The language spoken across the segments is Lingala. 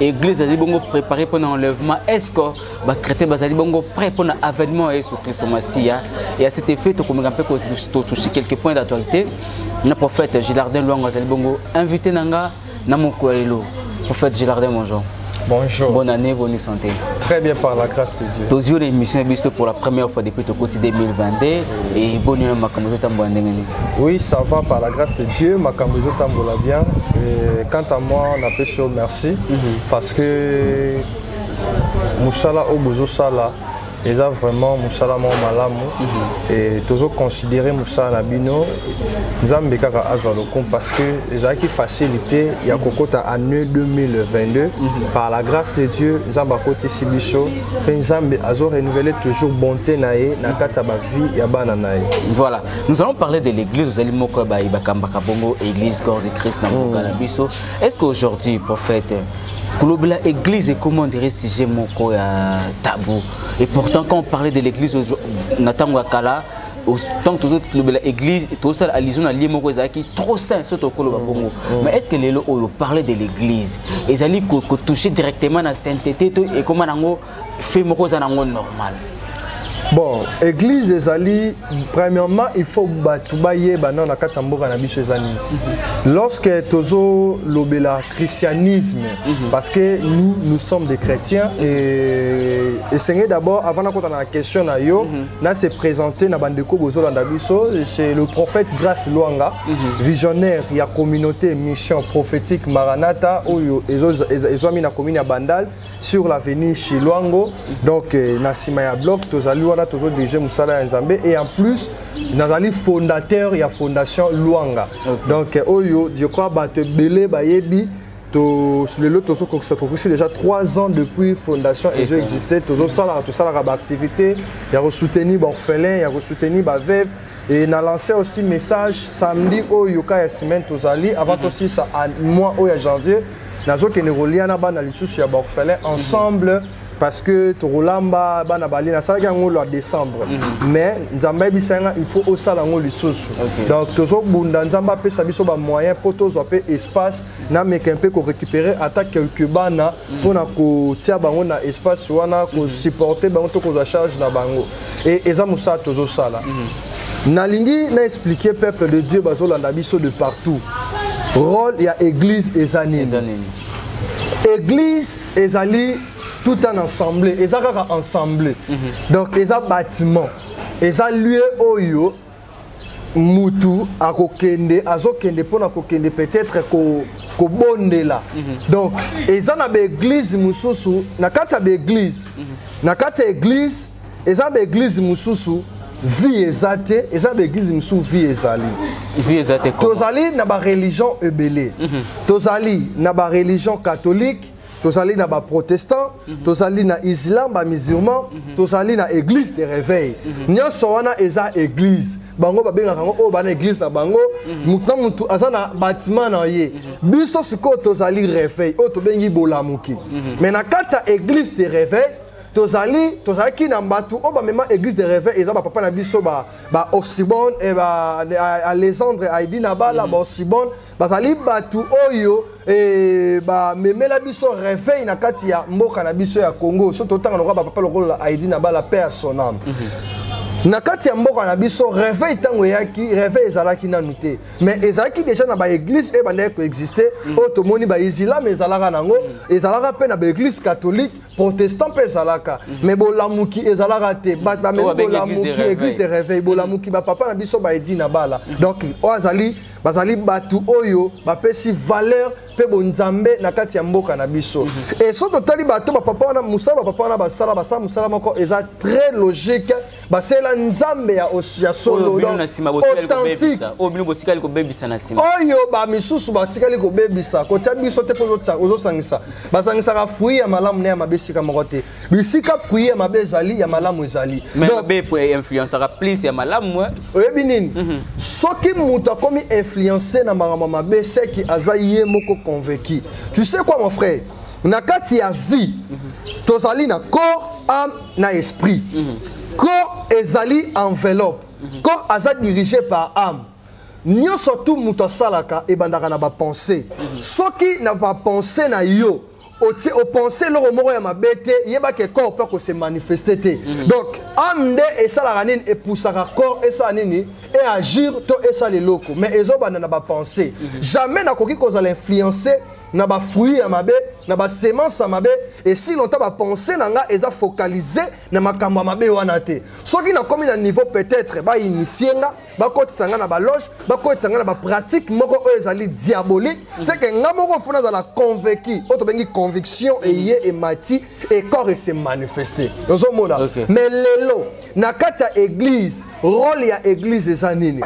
eglise ezali bongo préparé mpo na enlèvement est ce que bachrétien bazali bongo prêt mpo na avènement ya yesu kristo masiya et à cet effet tokomeka mpe kotouche quelques points d'actualité na prophète gilardin lwango azali bongo invité na nga na mokolo ya lelo prophète gilardin bonjour Bonjour. Bonne année, bonne santé. Très bien par la grâce de Dieu. Tozio l'émission biso pour la première fois depuis tokoti 2022 et bonne année makambo totambo ndenge Oui, ça va par la grâce de Dieu, makambo ezotambola bien. Et quant à moi, on appelle ça merci mm -hmm. parce que musala au bozo sala eza vraiment musala moko malamu mm -hmm. et tozo considérer musala na bino nzambe kaka azwa lokumu parce que ezalaki facile te ya kokota année 2022 mm -hmm. par la grâce de dieu nzambe akotisi biso mpe nzambe azo renouveler toujours bonté na ye na kati ya bavie ya bana na ye voilà Nous allons parler de l'église, vous allez moko ba ibakamba kabongo église corps de Christ na mboka na biso. Est-ce qu'aujourd'hui prophète kolobela église ekoma ondire sujet moko ya tabou et pourtant quand on parlait de l'église na ntango ya kala tant que tozo lobela église tosala allusion na lie moko ezalaki trop sain soki tokoloba bongo mm. mais est ce que lelo oyo parler de l'église ezali kotouche directement na sainteté to ekoma nango fe moko eza nango normal bon église ezali premièrement il faut bato bayeba nao na kati ya mboka na biso eza nini mhm. lorsque tozolobela christianisme mhm. parce que nous nous sommes des chrétiens et esengeli d'abord avant nakota na question na yo mhm. na se présenter na bandeko bozolanda biso c'est le prophète grace lwanga visionnaire ya communauté mission prophétique maranata oyo ezwami na commune ya bandal sur l'avenue Chiluango donc euh, na sima ya bloc tozali wana tozo dirige musala ya Nzambe et en plus nazali fondateur ya fondation Luanga okay. donc euh, oyo je crois bato ebele bayebi lelo tozokokisa tokokisi déjà 3 ans depuis fondation ezo existe tozosalaka tosalaka baactivité ya kosoutenir baorphelin ya kosoutenir baveve Et na lancé aussi message samedi oyo ka ya semaine tozali avant mm -hmm. aussi ça à mois oyo ya janvier nazokende kolia na bana lisusu ya baorphelin mhm. ensemble mm -hmm. parce que tokolamba bana bali nasalaki yango lwa décembre mhm. mais nzambe ayebisa nga il faut osala yango lisusu donc tozobunda nzambe apesa biso bamoyen mpo tozwa mpe espace nameka mpe korécupérer ata quelque bana mpo na kotia bango na espace wana kosupporte bango to kozwa charge na bango e, eza mosala tozosala mm. nalingi na expliquer peuple de dieu bazolanda biso de partout role ya église eza nini église ezali tout un ensemble eza kaka ensemble mm -hmm. donc eza bâtiment eza lieu oyo mutu akokende azokende mpona kokende peut-être ko kobondela mm -hmm. donc eza na baeglize mosusu na kati ya baeglize mm -hmm. na kati ya eglize eza baeglize mosusu vie eza te eza baeglize mosusu vie ezali vie eza te tozali na bareligion ebele mm -hmm. tozali na bareligion catholique tozali na baprotestant mhm. tozali na islam bamusulman mhm. tozali na église de réveil mhm. nyonso wana eza église bango babengaka yango oyo bana église na bango motu na motu aza na batiment na ye biso sikoyo tozali réveil oyo tobengi bolamuki mais na kati ya église de réveil tozali tozalaki na bato oyo bamema église de réveil eza bapapa na biso baosibone ba, ba, eh, alexandre aidinabala baosibone bazali bato oyo eh, bamemela biso reveil na kati ya mboka na biso ya congo so totanga lokola bapapa lokola aidi na bala pe ya sonam mm -hmm. na kati ya mboka na biso reveil ntango eyaki reveil ezalaki nanu te mais ezalaki déjà na baeglise oyo ebandaki koexiste mm. oyo tomoni baizilame ezalaka nango mm. ezalaka mpe na baeglise catholique protestant mpe ezalaka mm. mais bolamuki ezalaka te bato bamemi bolamuki église de reveil bolamuki bapapa na biso baedi na bala donc oyo azali bazali bato oyo bapesi valeur mpe bonzambe na kati ya mboka na biso mhm. e soki totali bato bapapa wana mosala bapapa wana basala basala mosala moko eza très logique basela nzambe ya, ya solo authentique oyo bamisusu batikali kobebisa kotya biso te mpo ozosangisaka basangisaka fruit ya malamu na ya mabe esika moko te bisika fruit ya mabe ezali ya malamu ezali influencaka plus ya malamu eh? oyebi nini mhm. soki moto akomi influence na makambo mabe seki aza ye moko convaincu tu sais quoi mon frère na kati ya vie mhm. tozali na corps âme na esprit mhm. corps ezali enveloppe corps aza dirigé par âme nyonso tu moto asalaka ebandaka na bapense soki na bapense na yo otie opense eloko moko ya mabe te yeba ke corps mpe akose manifeste te mhm. donc ame nde esalaka nini epusaka corps esala nini eagir to esala eloko mais ezobanda na bapense mhm. jamais nakoki kozala influence na bafruit ya mabe na basemence ya mabe esi longtemps bapense na nga eza focalise na makambo ya mabe wana te soki nakomi na niveau peut-être bainitie nga bakotisa ngai na baloge bakotisa ngai na bapratique moko oyo ezali diabolique mm. c'est que ngai moko fo nazala convaincu oyo tobengi conviction mm. eye emati ekor ese manifeste ozomona mais lelo na kati ya église role ya église eza nini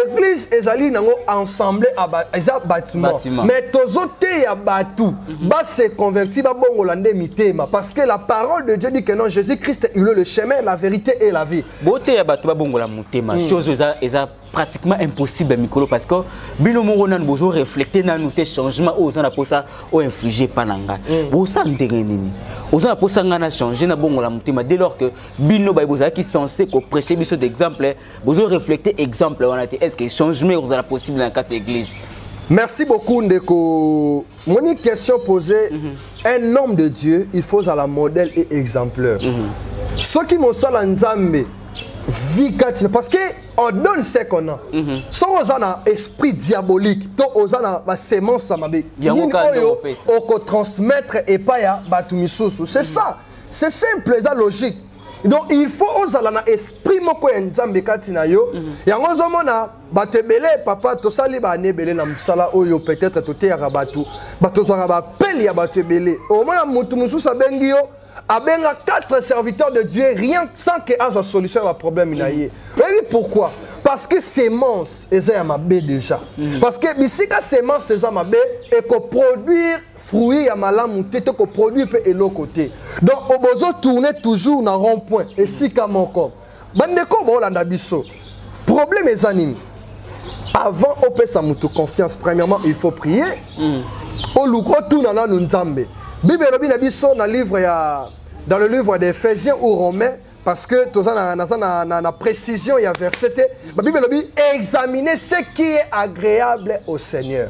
église ezali nango ensemble eza bâtiment mais tozoteya bato mhm. base converti babongola nde mitema parce que la parole de dieu dit que non jésus christ il est le chemin la vérité et la vie boteya bato babongola motema mm. chose eza, eza pratiquement impossible mikolo parce que bino moko nanu bozo reflete nanu te changement oyo oza na mposa oinflige epa na ngai mm. bosala ndenge nini oza na mposa ngai na change na bongola motema dès lors que bino baye bozalaki censé koprêche biso d'exemple bozo reflete exemple wana te est ce que changement ekozala possible na kati ya église merci beaucoup ndeko moni question posée mm -hmm. un homme de dieu il faut azala modèle et exemplaire mm -hmm. soki mosala nzambe vie kati na parce que on donne ce qu'on a mm -hmm. soki oza na esprit diabolique to oza na basemence ya mabe nini oyo okotransmettre epai ya bato misusu c'est mm -hmm. ça c'est simple eza logique donc il faut ozala na esprit moko ya nzambe kati na yo mm -hmm. yango ozomona bato ebele papa tosali baane ebele na mosala oyo peut-être toteyaka bato bato tozwaka baapele ya bato ebele omona moto mosusu abengi yo abenga quatre serviteurs de dieu rien sans que azwa solution ya baproblème na ye oyebi pourquoi parce que semence eza ya mabe déjà mhm. parce que bisika semence eza mabe ekoproduire fruit ya malamu te tokoproduire mpe eloko te donc obozo tourne toujours na rond point esika moko bandeko oyo baolanda biso problème eza nini avant opesa motu confiance premièrement il faut prier mm. oluka otuna nanu nzambe bible elobi na biso na livre ya dans le livre des ephésiens ou romains parce que toza na, naza na, na, na précision ya verset te babible elobi examiner ce qui est agréable au seigneur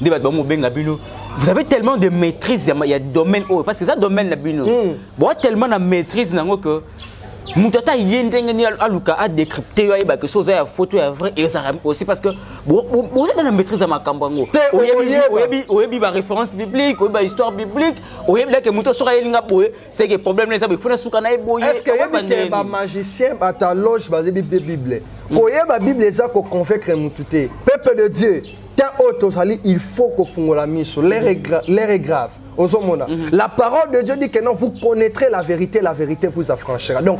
nde bato bamobenga bino vous avez tellement de maîtrise ya, ya domaine oyo parce que eza domaine na bino mm. boa tellement na maîtrise nango que moto ata ye ndenge nini aluka adécrypte yo ayebake so oza ya foto ya vrai ezalaka aussi parce que boza na maîtrise ya makambo yango oyebi baréférence biblique oyebi bahistoire biblique oyebi lake moto soki ayelinga boye seke problème na eza boye fona suka na ye boye est ce que oyebi te bamagicien bataloge bayebi bible koyeba bible eza koconvaincre motu te peuple de dieu temps oyo tozali il faut kofungola miso l'air est grave ozomona mm -hmm. la parole de dieu dit que non vous connaîtrez la vérité la vérité vous affranchira donc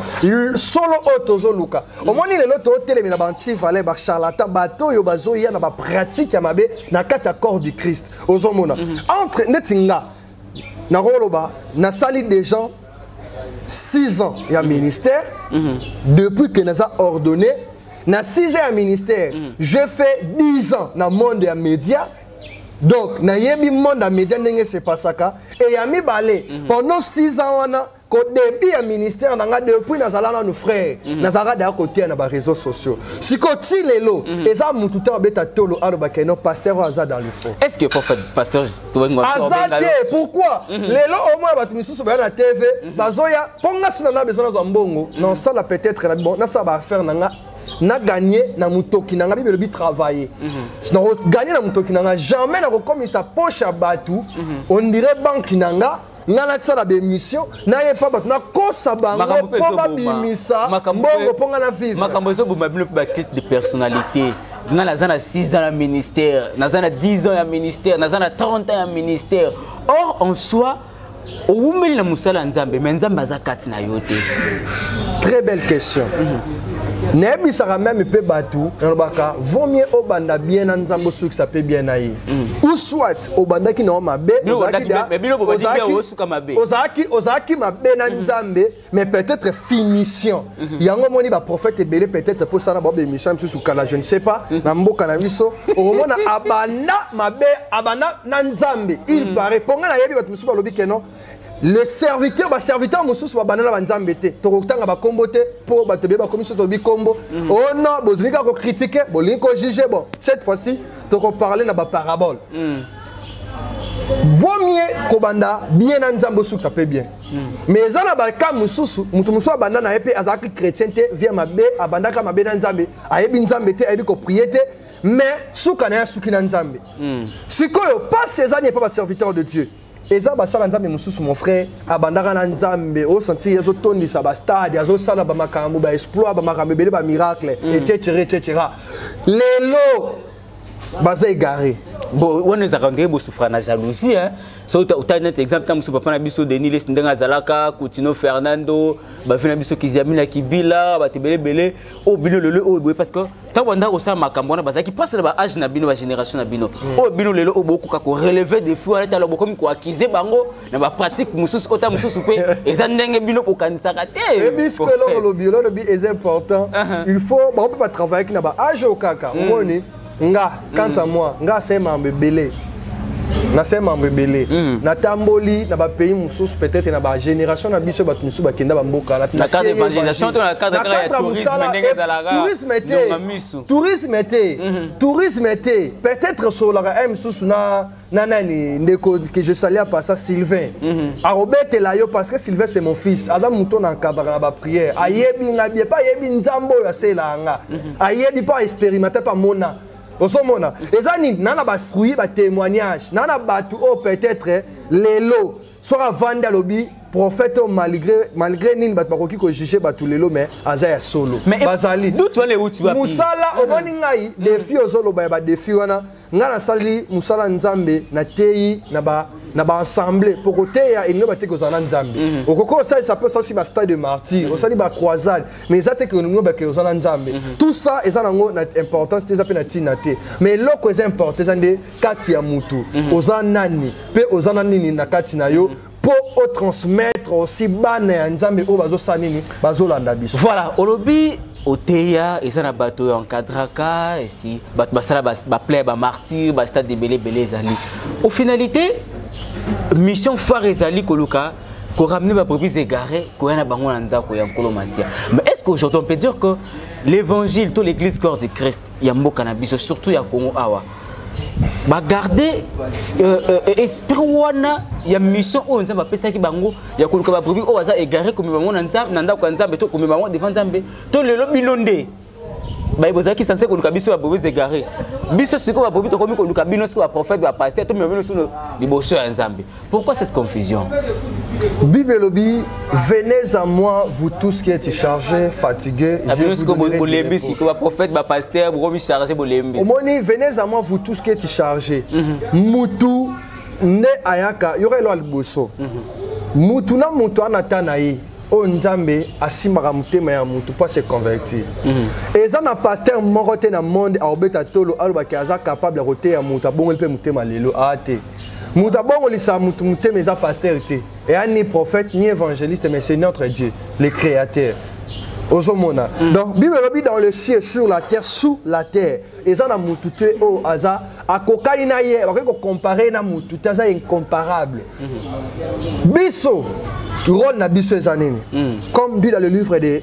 solo oyo tozoluka mm -hmm. omoni lelo totelemi na baantivale bacharlatan bato oyo bazoya na bapratique ya mabe na kati ya corps du christ ozomona mm -hmm. entre neti nga nakoloba nasali déjà 6 ans ya mhm. ministère mm -hmm. depuis que naza ordonné na 6 ans ya ministère mm -hmm. je fais 10 ans na monde ya média donc nayebi monde ya média ndenge sepasaka e ya mibale mm -hmm. pendant 6 ans wana ko début ya ministère na nga depuis nazala nanu frère mm -hmm. nazalaka daya koteya na baréseau sociaux sikoyo ti lelo mm -hmm. eza mutu te abeta tolo alobaka eno pasteur oyo aza dans le faux est ce que prophète pasteur aza te pourquoi mm -hmm. lelo omona bato misusu baya na tv mm -hmm. bazoya mpo nga sina na besoin nazwa mbongo mm -hmm. naosala peut-être na bon nasala baaffaire na nga na gagner na mutoki na nga bible bi travailler mhm. na ko gagner na mutoki na nga jamais na ko komisa poche ya batu mhm. on dirait banque na nga nga nasala baémission nayepa bato nakosa bango mpo babimisa mbongo mpo nga na vivre makambo ezoboma bino mpe batete de personnalité nga naza na 6 ans ya ministère naza na 10 ans ya ministère naza na 30 ans ya ministère or en soi owumeli na mosala ya nzambe me nzambe aza kati na yo te très belle question mm -hmm. nayebisaka meme mpe bato nalobaka vaut mieux obanda bien na nzambe osukisa mpe bien na ye ou soit obandaki na yo mabe ozalaki mabe na mhm. nzambe mais peut-être finition mhm. yango omoni baprophète ebele peut-être mpo esala na bao bémission mosusu kala je ne sais pas mhm. na mboka na biso okomona abanda mabe abanda na nzambe il paraît mpo ngai nayebi bato mosusu balobi keno le serviteur baserviteur mosusu babanda na banzambe te tokotanga bakombo te mpo bato ebele bakomi so tolobi kombo mm. o oh non bolingi kaka kokritike bolingi kojuge bon cette fois ci tokoparle na baparabole mm. vaut mieux kobanda bien na nzambe osukisa mpe bien mm. mais eza na baka mosusu moto mosusu abanda na ye mpe azalaki chrétien te vie mabe abandaka mabe na nzambe ayebi nzambe te ayebi koprie te mais suka na ye asuki na nzambe sikoyo mpasi eza nini epa baserviteur de dieu eza basala nzambe mosusu mon frère abandaka na nzambe osantir azotondisa bastade azosala bamakambo baexploit bamakambo ebele bamiracle mm. etc etc lelo baza egare bon wana ezalaka ndenge bosufra na jalousie hein? so otali neti exemple ntango mosusu papa na biso denis lesi ndenge azalaka coutino fernando bavi na biso kiziamina kibila bato ebele ebele oyo bino lelo oyo boye parce que ntango bandaki kosala makambo wana bazalaki mpasi na baage na bino bagénération na bino hmm. oyo bino lelo oyo bokoka koreleve defi wana tala bokomi koakize bango na bapratique mosusu ota mosusu mpe eza ndenge bino bokanisaka te ebisko eloko olobi eloko olobi eza important uh-huh. il faut bango mpe batravaillaki na baage oyo kaka hmm. omoni nga quant à moi nga asali makambo ebele nasali makambo ebele mm. natamboli na bapays mosusu peut-être na bagénération na biso bato mosusu bakenda bamboka tourisme te tourisme te tourisme te peut-être sololaka ya mosusu na na nani ndeko que je salia pas ça Sylvain mm -hmm. akobetela yo parce que Sylvain c'est mon fils aza moto na nkabaka na baprière ayebi nga bie mpe ayebi nzambe oyo aselaa nga mm -hmm. ayebi mpe aexperimente mpe amona ozomona eza nini na na bafruit batémoignage na na bato oyo peut-être lelo soki avandi alobi prophète oyo malgré malgré nini bato bakoki kojuge bato lelo mais aza ya solo bazali mosala omoni ngai defi ozoloba ya badefi wana nga nasali mosala nzambe nateyi na ba na baassemble mpo koteya elingi bate kozala na nzambe mhm. okoki osalisa mpe osalisi bastade de martyr mhm. osali bacroisade mais eza te keolingi bake oza na nzambe mhm. tout ça eza nango na importance te eza mpe na ntina te mais eloko eza importe eza nde kati ya motu oza nani mpe oza na nini na kati na yo mpo otransmettre aussi bana ya nzambe oyo bazosala nini bazolanda biso voilà olobi oteya eza na bato oyo encadraka esi bato basala baplay bamartyr bastade ebele ebele ezali au finalité mission phare ezali koluka koramene baproprise egare koya na bango na ndako ya nkolo masia mais est ce qu'aujourd'hui on peut dire que l'évangile to l'église corps de christ ya mboka na biso surtout ya congo awa bagarde euh, euh, esprit wana ya mission oyo nzambe apesaki bango ya koluka babrebi oyo baza egare komema bango na ndako ya nzambe to komema bango devant nzambe to lelo bino nde baye bozalaki sanse koluka biso ya bobo zegare biso sikoyo babobi tokomi koluka bino sikoyo baprofete bapaster tomema bino sino liboso ya nzambe Pourquoi cette confusion Bible Lobby, venez à moi, vous tous qui êtes chargés, fatigués. Ah, je vous donnerai du repos. prophète, ma pasteur, vous chargé, vous Omoni, venez à moi, vous tous qui êtes chargés. Mhm. Moutou, ne ayaka, yore lo alboso. Mhm. Moutou na moutou anata na ye. oyo nzambe asimbaka motema ya motu mpo ase convertir mhm. eza na paster moko te na monde aobeta tolo alobaki aza capable ya koteya moto abongoli mpe motema lelo aa ah, te moto abongolisa moto motema eza pasteur te eya ni prophète ni évangéliste mais c'est notre dieu le créateur ozomona mm. donc bible elobi dans le ciel sur la terre sous la terre eza na motu te oyo oh, aza akokani na ye bakoki kocompare na motu te aza incomparable mm -hmm. biso rôle na biso eza nini mm. comme dit dans le livre de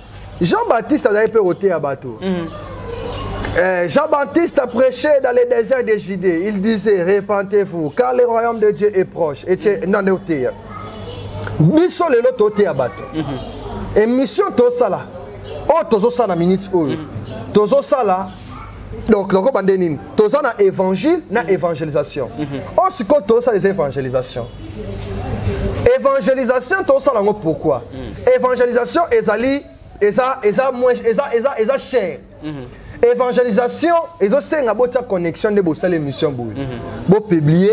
jean baptiste azali mpe koteya bato mm. Eh, Jean-Baptiste a prêché dans les déserts de Judée. Il disait, répentez-vous, car le royaume de Dieu est proche. Et tu es dans le terre. Biso lelo tote ya bato. Mhm. Émission tosala. Oh, tozo sala minute oyo. Mhm. Tozo sala donc nako bande nini toza na évangile na évangélisation oyo oh, sikoyo tozosala eza évangélisation évangélisation tozosala yango pourquoi mm. évangélisation ezali eza eza moins eza eza eza cher mhm. évangélisation ezosenga botia connexion nde bosala émission boye mhm. bopublie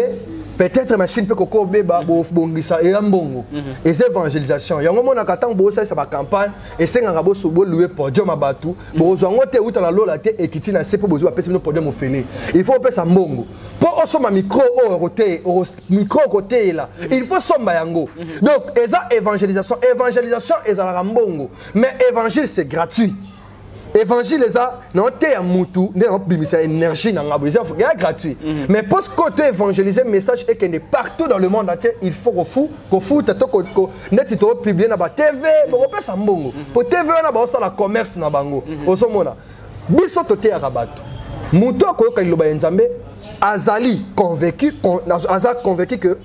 peut-être machine mpe kokoa obeba mhm. bobongisa eya mbongo eza évangélisation yango omonaka ntango bosalisa bacampagne esengaka boso bolue podium ya bato bokozwa yango te euta na lola te ekiti na se mpo bozwi bapesi bino podium ofele il faut opesa mbongo mpo osomba micro oyo micro okoteyela il faut somba yango donc eza évangélisation évangélisation ezalaka mbongo mais évangile c'est gratuit évangile eza naoteya mutu nde naobimisa énergie na ngai boye eza gratuit mhm. mais mpo sikoyo to évangélise message ekende partout dans le monde entier il faut kofu kofuta to neti toopiblie na batv bokopesa mbongo mpo tv wana baosala commerce na bango mhm. ozomona biso toteyaka bato moto akoyoka liloba ya nzambe azali convaincu aza convaincu que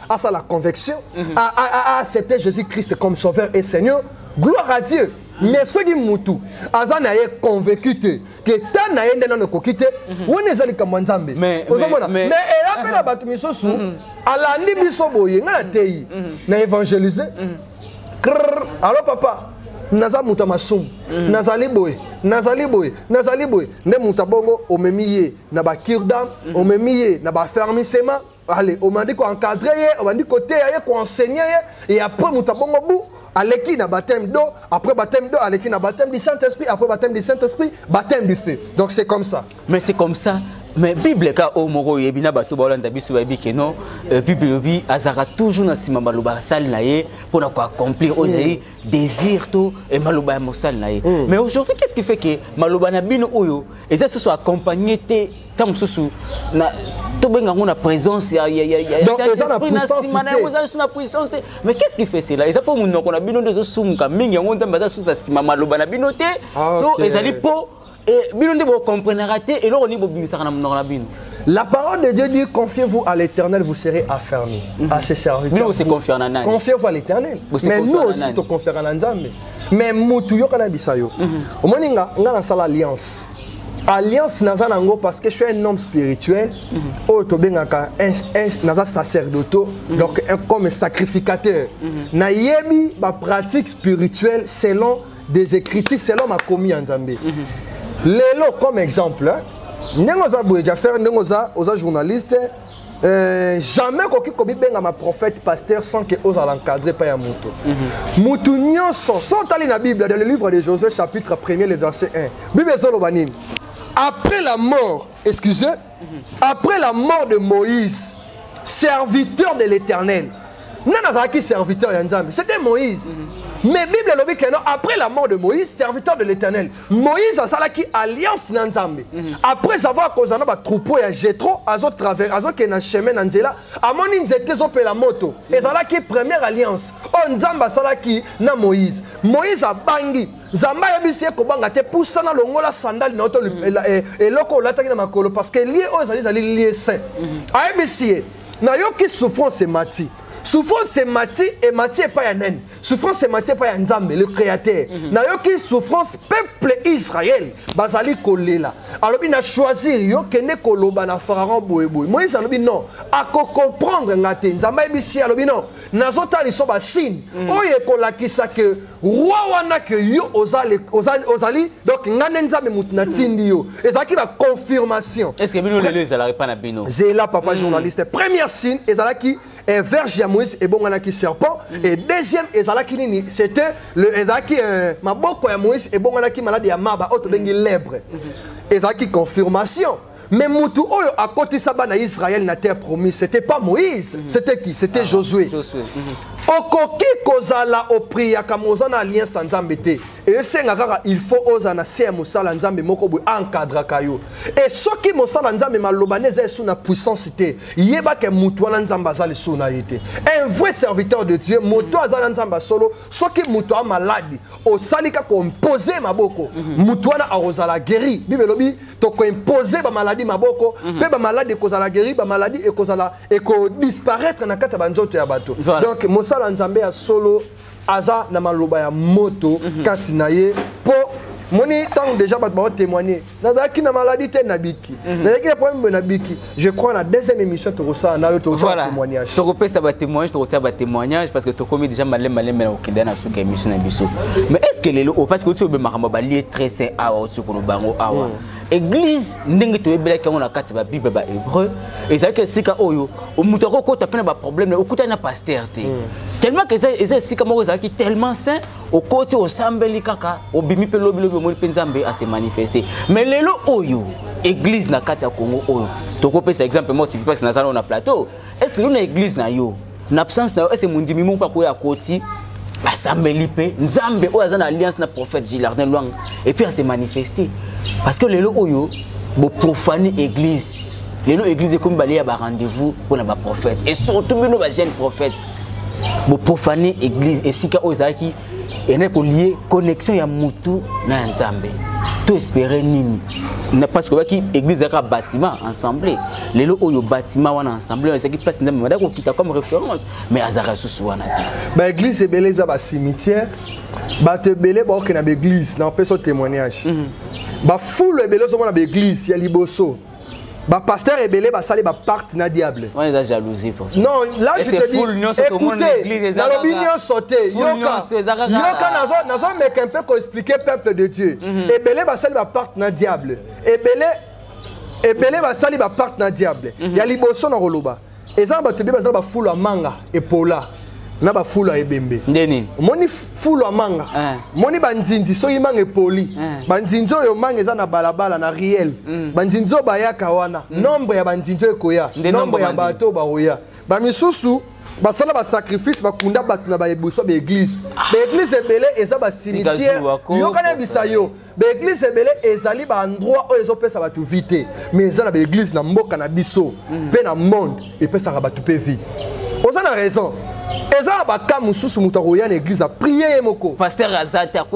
asala convection mhm. aaccepte jésus christ comme sauveur et seigneur gloire à dieu mais soki mutu aza na ye convaincu te ke ta na ye nde nano ekoki te mhm. wana eza likambo ya nzambe ozomona mais eya mpe na bato misusu mhm. alandi biso boye ngai nateyi mhm. na évangélise krr alo papa naza moto ya masumu nazali boye nazali boye nazali boye nde moto ya bongo omemi ye na bakirda omemi ye na bafermisema ale obandi koencadre ye obandi koteya ye koenseigne ye e après moto abongo bu aleki na baptême do après baptême do aleki na baptême du saint-esprit après baptême du saint-esprit baptême du feu donc c'est comme ça mais c'est comme ça mais bible ka oyo moko oyebi na bato baolanda biso bayebi ke no euh, bible elobi azalaka toujours na nsima maloba asali na ye mpo na koaccomplir oyo ezali désir to eh, maloba ya mosali na ye mm. mais aujourd'hui qu'est ce qui fait que maloba na bino oyo eza susu accompagné te ntango mosusu na tobenga yango na présence ya nsima na yango eza lisusu na puissance te mais qu'est ce qui fait cela eza mpo monoko na bino nde ezosumuka mingi yango nzambe aza lisusu na nsima maloba na bino te ah, to ezali mpo Et bino nde bo comprenera te eloko ni bobimisaka na monoko na bino. La parole de Dieu dit confiez-vous à l'Éternel, vous serez affermis. Mm -hmm. À ses serviteurs. Bino se confier na nani? Confiez-vous à l'Éternel. Mais nous aussi to confier na Nzambe. Mais mutu yoka na bisayo. Mhm. Omoni nga nga na sala alliance. alliance naza nango parce que je suis un homme spirituel mhm. oyo tobengaka naza sacerdoto mhm. donc comme sacrificateur nayebi bapratique spirituelle selon des écritures selon makomi ya nzambe mhm. lelo comme exemple ndenge oza boye jafere ndenge oza oza journaliste Euh, jamais koki kobibengama prophète pasteur sans que ozala encadré mpa ya moto mhm. moto nyonso so otali na bible dans le livre de josué chapitre 1er le verset 1 bible ezoloba nini après la mort excusez après la mort de moïse serviteur de l'éternel nani azalaki serviteur ya nzambe c'était moïse mm -hmm. mais bible elobi keno après la mort de moïse serviteur de l'éternel moïse asalaki alliance na nzambe mhm. après avoir kozala na batroupeau ya jetro azokende na chemin na nzela amoni nzete ezopela moto mhm. ezalaki première alliance oyo nzambe asalaki na moïse moïse abangi nzambe ayebisi ye kobanga te pusana longola sandali na yo to mm. eh, eloko olataki na makolo parce que lie oyo ezali ezali lie saint mm. ayebisi ye nayoki souffrance emati souffrance emati emati epai ya nani souffrance emati epai ya nzambe le créateur mm -hmm. nayoki souffrance peuple israel bazali kolela alobi na choisir yo kende koloba na pharaon boyeboye moïse alobi non akocomprendre nga te nzambe ayebisi alobi non nazotala liso basigne mm. oyo ekolakisa ke roi wana ke yo ozali, ozali, ozali donc ngai nde nzambe moto natindi yo ezalaki baconfirmation estce bino lelo ezalaka epa na bino zela papa mm. journaliste première signe ezalaki eh, verge ya moïse ebonganaki serpent mm. et deuxième ezalaki nini c'était ezalaki eh, maboko ya moïse ebonganaki malade ya maba oyo tobengi mm. lebre mm. ezalaki confirmation Mais mutu oyo akotisa bana Israël na terre promise, c'était pas Moïse, mm -hmm. c'était qui C'était ah, Josué. Josué. Mm -hmm. Okoki kozala opriyaka mozana alliance ya Nzambe te. esenga kaka il faut ozala na se ya mosala nzambe moko boye encadraka yo e soki mosala nzambe maloba nde eza esu na puissance te yebaka motu wana nzambe aza lisusu na ye te un vrai serviteur de dieu moto aza na nzambe ya solo soki moto a maladi osali kaka ompose maboko mhm. moto wana akozala guéri bible elobi tokoimpose bamaladi maboko mpe mhm. bamaladi ekozala guéri bamaladi ekozala ekodisparaître na kati ya banzoto ya bato donc mosala nzambe ya solo aza na maloba ya moto mhm. kati na ye mpo moni ntango deja bato baotémoigne nazalaki na maladie te nabiki mhm. nazalaki na problème boye nabiki je crois na deuxième émission tokosala nayo tokotia témoignage tokopesa batémoignage tokotia batémoignage parce que tokomi déjà malembe malembe na kokende na suka émission na biso mais est ce que lelo oyo oh, parce que oti obe makambo balie très saint awa oti koloba yango awa mm. église ndenge toyebelaki yango na kati ya babible ba hébreu ezalaki esika oyo oh, moto akokota mpe na baproblème okutani na pasteur te mm. tellement que eza esika moko ezalaki tellement saint okoti osambeli kaka obimi mpe lobilobi omoni mpe nzambe ase manifeste mais lelo oyo église na kati ya congo oyo tokopesa exemple moko tivipax naza nao na plateau est ce lelo na église na yo na absence na yo est ce mondimi moko akoya akoti asambeli mpe nzambe oyo aza na alliance na prophète gilardin lwanga epuis ase manifeste parce que lelo oyo boprofane église lelo église ekomi balie ya barendez-vous mpo na baprophète et surtout bino bajeune prophète boprofane église esika oyo ezalaki ene kolie connexion ya mutu na ya nzambe to espere nini parce que obaki église ezalaka bâtiment ensemble lelo oyo bâtiment wana ensemble oyo ezalaki place nzambe madaki kokita comme référence mais azalaka lisusu wana te baeglise ebele eza bacimitière bato ebele baokenda baeglise na opesa témoignage mhm. bafoule ebele ozomona baeglise ya liboso ba pasteur ebele basali ba pacte na diable wana eza jalousie prof non là je te dis écoutez nalobi nyonso te yoka yoka nazo nazo meka un peu ko expliquer peuple de Dieu mhm. ebele basali ba pacte na diable ebele ebele basali ba pacte na diable mhm. ya liboso na koloba eza na bato ebele baza na bafulu ya manga epola na bafulu ya ebembe nde nini omoni fulu ya manga eh. omoni banzinzi soki manga epoli eh. banzinzi oyo manga eza na balabala na riel mm. banzinzi oyo bayaka wana mm. nombre ya banzinzi oyo ekoya nombre ya bato oyo bakoya bamisusu basala basacrifice bakunda bato na baeboso baeglize baeglize ebele eza basimitiere yokana bisa yo baeglise ebele ezali baendroit oyo ezopesa bato vie te mais eza na baeglise na mboka na biso mpe mm. na monde epesaka bato mpe vie oza na raison eza na baka mosusu moto akoya na eglise aprie ye moko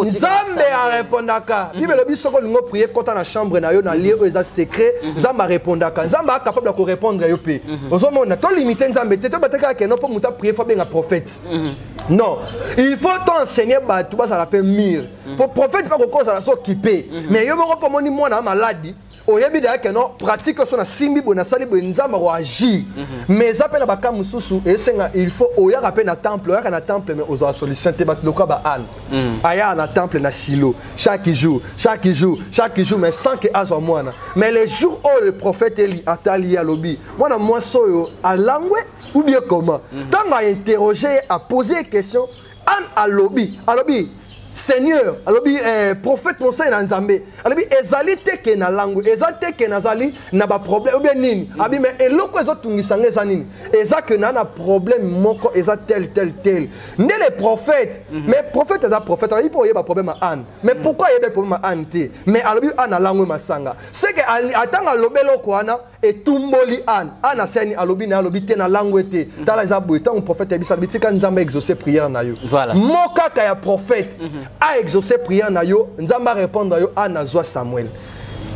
nzambe arepondaka mm. bibele biso soko olingi oprie kota na chambre na yo na lie oyo eza secret mm-hmm. nzambe arepondaka nzambe acapable ya korepondre yo mpe mm-hmm. ozomona tolimite nzambe te tobatekaka keno mpo moto aprie fo abenga prophète mm-hmm. non il faut toenseigne bato bazala mpe mire mpo prophète mpe kokosa na so kipe mhm. mais yo moko mpo omoni mwana ya maladi oyebi daya ke non pratique oso nasimbi boye nasali boye nzambe akoagir mhm. mais eza mpe na baka mosusu esenga il faut oyaka mpe na temple oyaka na temple mais ozwa solution te bato lokola baane mhm. ayaka na temple na silo chaque jour chaque jour chaque jour mais sans ke azwa mwana mais le jour oyo le prophète eli atali ye alobi mwana mwasi oyo alangwe ou bien comment ntango ainterroge ye apose ye question anne alobi alobi seigneur alobi eh, prophète mosali na nzambe alobi ezali te ke na lango eza te ke nazali na baproblème obie nini mm. abi me eloko ezotungisa nga eza nini eza ke na na problème moko eza tel tel tel nde le prophète mm -hmm. mais prophète aza prophète alobi mpo oyeba problème ya anne mais mm. pourquoi ayebe problème ya anne te mais alobi anne alango masanga seke atanga alobi eloko wana etumboli ane ane aseni alobi na ye alobi te na lango ete mhm. tala eza boye ntango prophète ayebisa alobi tika nzambe aexauce prière na yo voilà. mo kaka ya prophète mhm. aexauce prière na yo nzambe arépondre yo ane azwa samuel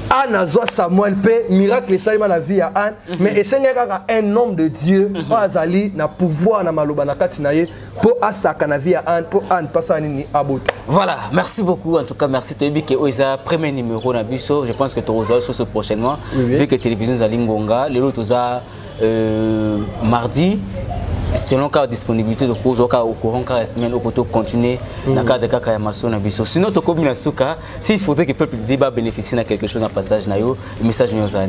ane azwa samuel mpe miracle esalema na vie ya ane mhm. mais esengeli kaka un homme de dieu oyo azali na pouvoir na maloba na kati na ye po asaka na vie ya Anne po Anne pasa nini abota voilà merci beaucoup en tout cas merci toyebi ke oyo eza premier numéro na biso je pense que tokozwa lisusu prochainement oui, oui. vu que télévision ezali ngonga lelo toza euh, mardi selon kaka disponibilité tokozwa kaka au courant kaka ya semaine oko to continuer mm. na cadre kaka ya maso na biso sinon tokomi na suka S'il faudrait que le peuple débat bénéficie de quelque chose dans le passage, le message nous a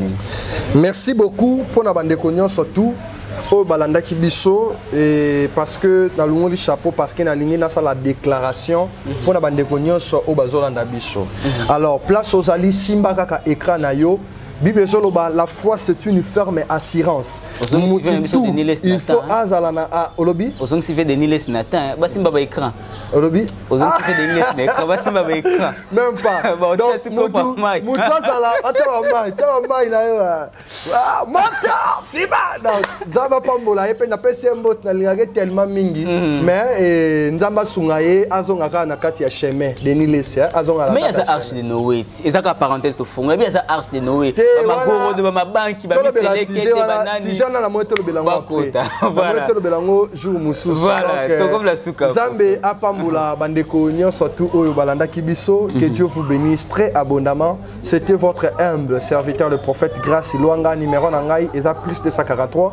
Merci beaucoup pour la bande de surtout. oyo balandaki biso eh, parce que nalongoli chapeau parce que nalingi nasala déclaration mpo na bandeko nyonso oyo bazolanda biso mhm. alors place ozali simba kaka écran na yo bible ezoloba la foi c'est une ferme assurance mutu il faut azala na ah, olobi ozongisi ve denis les natin basimba baécran olobi ozongisi mpe denglesi na ekran basimba ba ekran même pas mutu azala atya bamai tya bamai na yo ah. Ah, mata siba nzambe apambola ye mpe napesi ye mbote nalingaka ye tellement mingi mm. mais eh, nzambe asunga ye azonga kaka na kati ya chemin denis lesi eh, azonga mais aza arche de noe eza kaka parenthèse tofongola bi eza arche de noé bamagorodo bamabanki bamiselekete bananijana na moi tolobela ngo bakota voilà tolobela ngo jour mosusu voilà euh, tokomela suka nzambe apambola bandeko nyonso tu oyo balandaki biso que mhm. dieu vous bénisse très abondamment c'était votre humble serviteur le prophète grace luanga numéro na ngai eza plus 243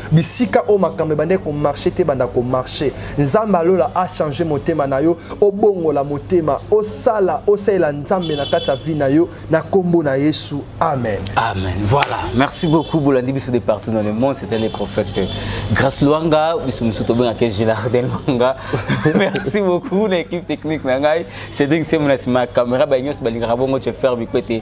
bisika oyo makambo ebandaki komarche te banda komarche nzambe alola achange motema na yo obongola motema osala osalela nzambe na kati ya vi na yo na nkombo na yesu amen amen voilà merci beaucoup bolandi biso de partout dans le monde c'était le prophète grace luanga biso mosusu tobengaka gilarde luanga merci beaucoup na équipe technique na ngai cédric semona nsima ya caméra baye nyonso balingaka bongo jefer bikwete